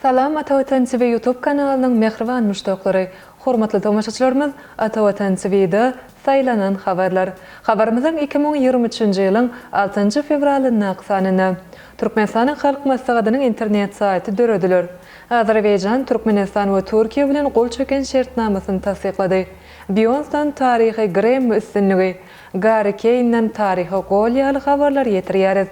Salam Atavatan TV YouTube kanalynyň mähriban muşdaklary, hormatly tomaşaçylarymyz Atavatan TVda Saýlanan habarlar habarymyzyň iki müň ýigrimi üçünji ýylyň altynjy fewralyndaky sanynda Türkmenistanyň Halk Maslahatynyň internet saýty dörediler. Azerbaýjan, Türkmenistan we Türkiýe bilen gol çeken şertnamasyny tassyklady. Beýonsdan taryhy Grammy üstünligi, Garri Keýnden taryhy gol ýaly habarlar ýetirýäris.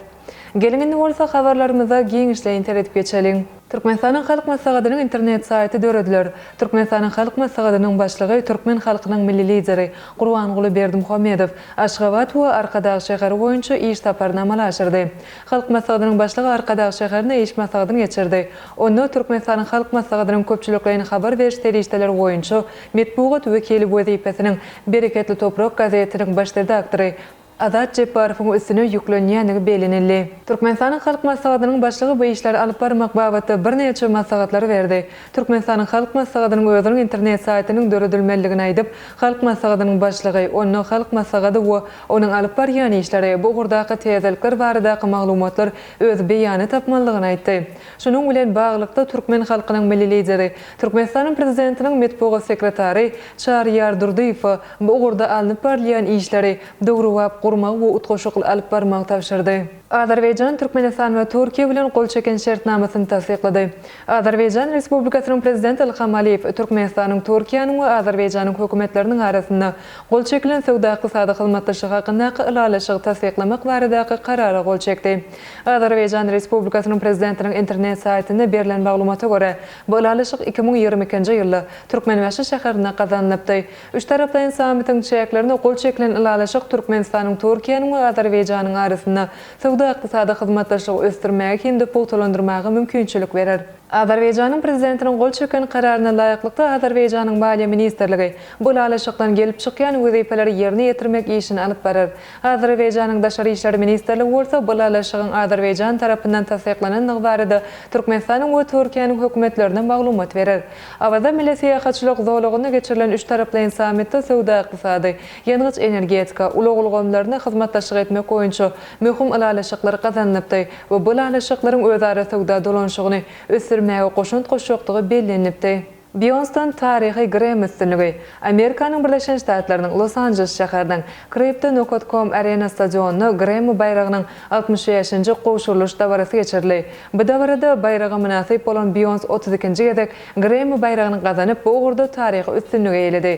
Geliň indi bolsa habarlarymyza giňişleýin seredip geçeliň. Türkmenistanyň Halk Maslahatynyň internet saýty dörediler. Türkmenistanyň Halk Maslahatynyň Başlygy türkmen halkynyň Milli Lideri Gurbanguly Berdimuhamedow Aşgabat we Arkadag şäheri boýunça iş saparyny amala aşyrdy. Halk Maslahatynyň Başlygy Arkadag şäherinde iş maslahatyny geçirdi. Onda Türkmenistanyň Halk Maslahatynyň köpçülikleýin habar beriş serişdeleri boýunça Metbugat wekili wezipesiniň Bereketli toprak gazetiniň baş redaktory Azat Jepbarowyň üstüne ýüklenýändigi bellenildi. Türkmenistanyň Halk Maslahatynyň Başlygy bu işleri alyp barmak babatda birnäçe maslahatlary berdi. Türkmenistanyň Halk Maslahatynyň özüniň internet saýtynyň döredilmelidigini aýdyp, Halk Maslahatynyň Başlygy, onda Halk Maslahaty we onuň alyp barýan işleri, bu ugurdaky täzelikler baradaky maglumatlar öz beýany tapmalydygyny aýtdy. Şunuň bilen baglylykda, türkmen halkynyň Milli Lideri, Türkmenistanyň Prezidentiniň metbugat sekretary Çaryýar Durdyýewe bu ugurda alnyp barylýan işleri döwrebap gurmagy we utgaşykly alyp barmagy tabşyrdy. Azerbaýjan Türkmenistan we Türkiýe bilen gol çeken şertnamasyny tassyklady. Azerbaýjan Respublikasynyň Prezidenti Ilham Aliýew Türkmenistanyň, Türkiýäniň we Azerbaýjanyň Hökümetleriniň arasynda gol çekilen söwda-ykdysady hyzmatdaşlyk hakyndaky Ylalaşygy tassyklamak baradaky Karara gol çekdi. Azerbaýjan Respublikasynyň Prezidentiniň internet saýtynda berlen maglumata görä, bu ylalaşyk iki müň ýigrimi ikinji ýylda Türkmenbaşy şäherinde gazanylypdy. Üçtaraplaýyn sammitiň çäklerinde gol çekilen ylalaşyk Türkmenistanyň Türkiýäniň we Azerbaýjanyň arasynda söwda-ykdysady hyzmatdaşlygy ösdürmäge hem-de pugtalandyrmaga mümkinçilik berer. Azerbaýjanyň Prezidentiniň gol çeken Kararyna laýyklykda Azerbaýjanyň Maliýe ministrligi bu ylalaşykdan gelip çykýan wezipeleri ýerine ýetirmek işini alyp barar. Azerbaýjanyň Daşary işler ministrligi bolsa bu ylalaşygyň Azerbaýjan tarapyndan tassyklanandygy barada Türkmenistanyň we Türkiýäniň hökümetlerine maglumat berer. Awaza milli syýahatçylyk zolagyna geçirilen üç taraplaýyn sammitde söwda-ykdysady, ýangyç-energetika, ulag ulgamlarynda hyzmatdaşlyk etmek boýunça möhüm ylalaşyklar gazanylypdy we bu ylalaşyklaryň özara söwda dolanyşygyny ösdürmäge goşant goşjakdygy bellenilipdi. Býonston taryhy Grem üstünligi, Amerikanyň Birleşen Ştatlarynyň Los-Anjeles şäheriniň Crypto Nokat Com Arena stadionynda Gremi baýragynyň altmyş bäşinji gowşurylyş dabarasy geçirildi. Bu dabarada baýraga mynasyp bolan Býons otuz ikinji gezek Gremi baýragyny gazanyp, bu ugurda taryhy üstünligi eýeledi.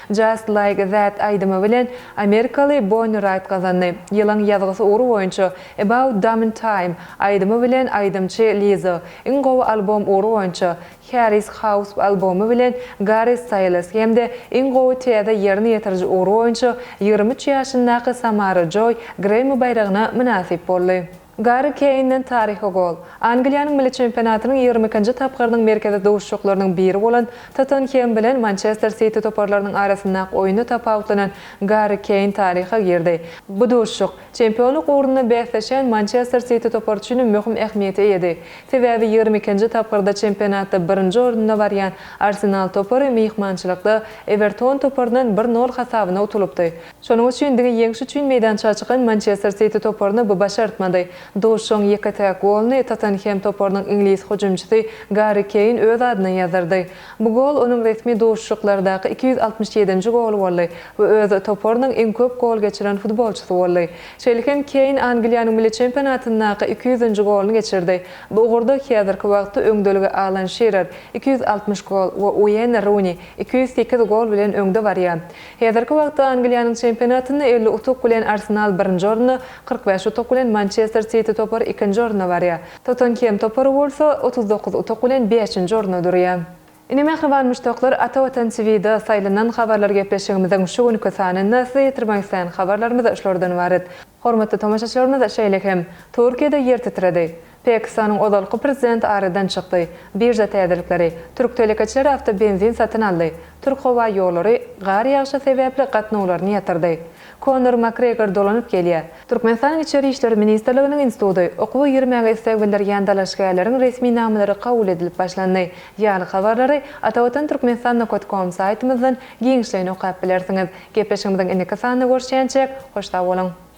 Just Like That aýdymy bilen amerikaly Bonnie Raitt gazandy. Ýylyň ýazgysy ugry boýunça About Damn Time aýdymy bilen aýdymçy Lizzo, iň gowy albom ugry boýunça Harris House albomy bilen Garri Staýles hem-de iň gowy täze ýerine ýetiriji ugry boýunça ýigrimi üç ýaşyndaky Samara Joý Grammy baýragyna mynasyp boldy. Garri Keýnden taryhy gol. Angliýanyň milli çempionatynyň ýigrimi ikinji tapgyrynyň merkezi duşuşyklarynyň biri bolan Tottenhem bilen Mançester Siti toparlarynyň arasyndaky oýunda tapawutlanan Garri Keýn taryha girdi. Bu duşuşyk, çempionlyk ugrunda bäsleşýän Mançester Siti topary üçin hem möhüm ähmiýete eýedi. Sebäbi ýigrimi ikinji tapgyrda çempionatda birinji orunda barýan Arsenal topary myhmançylykda Ewerton toparyndan bir nol hasabyna utulypdy. Şonuň üçin diňe ýeňiş üçin meýdança çykan Mançester Siti toparyna bu başartmady. Duşuşygyň ýeke-täk goluny Tottenhem toparynyň iňlis hüjümçisi Garri Keýn öz adyna ýazdyrdy. Bu gol onuň resmi duşuşyklardaky iki ýüz altmyş ýedinji goly boldy we öz toparynyň iň köp gol geçiren futbolçysy boldy. Şeýle hem Keýn Angliýanyň milli çempionatyndaky iki ýüzünji goluny geçirdi. Bu ugurda häzirki wagtda öňdeligi Alan Şirer, iki ýüz altmyş gol, we Ueýn Runi, iki ýüz sekiz gol bilen öňde barýar. Häzirki wagtda Angliýanyň çempionatynda elli utuk bilen Arsenal birinji orunda, kyrk bäş utuk bilen Mançester Siti topary ikinji orunda barýar. Tottenhem topary bolsa, otuz dokuz utuk bilen bäşinji orunda durýar. Ine mähriban muşdaklar Ata Watan TVda saýlanan habarlar gepleşigimiziň şu günki sanynda size ýetirmek isleýän habarlarymyz şulardan ybarat. Hormatly tomaşaçylarymyz şeýle hem Türkiýede ýer titredi. Pakistanyň ozalky prezidenti aradan çykdy, birža täzelikleri, türk telekeçileri awtobenzin satyn aldy, türk howa ýollary gar ýagyşy sebäpli gatnawlaryny ýatyrdy, Konor Makgregor dolanyp gelýär, Türkmenistanyň Içeri işler ministrliginiň instituty okuwa girmäge isleg bildirýän dalaşgärleriň resminamalary kabul edilip başlandy ýaly habarlary Atavatan Türkmenistan nokat kom saýtymyzdan giňişleýin okap bilersiňiz. Gepleşigimiziň indiki sanynda görüşýänçäk, hoş sag boluň!